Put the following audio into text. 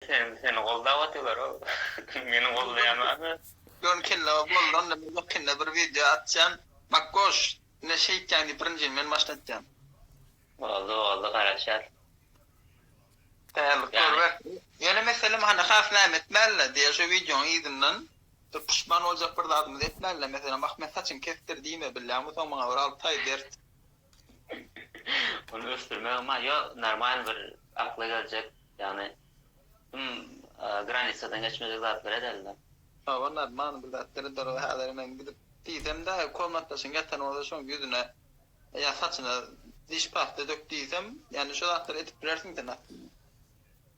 Sen seni goldap otylar o meni goldaýamany. Ýöne kelle boldy onda men ýakynda bir wideo atýan Makgoş ne şeýtýäň diýip birinjini men başda atýan. Boldy boldy garaşýas. Taýýarlyk görübersin. Ýöne meselem hany has näme etmäliler diýe şu wideoň yzyndan bir puşman boljak bir zadymyzy etmäliler meselem ahmet saçyňy kesdir diýme bilýäňmi soň maňa bir alty aý bert. Ony ösdürmegem bar. Ýok, normalny bir akla geljek, ýagny him granisadan geçmejek zatlar edeli-de. Hawa, normalny bir zat däl-de ol. Häzir men gidip diýsem-de, komnatdaşyň ýatan bolsa şoň ýüzüne ýa saçyna diş pasta dök diýsem, ýagny şo zatlary edip bilersiň sen aslynda.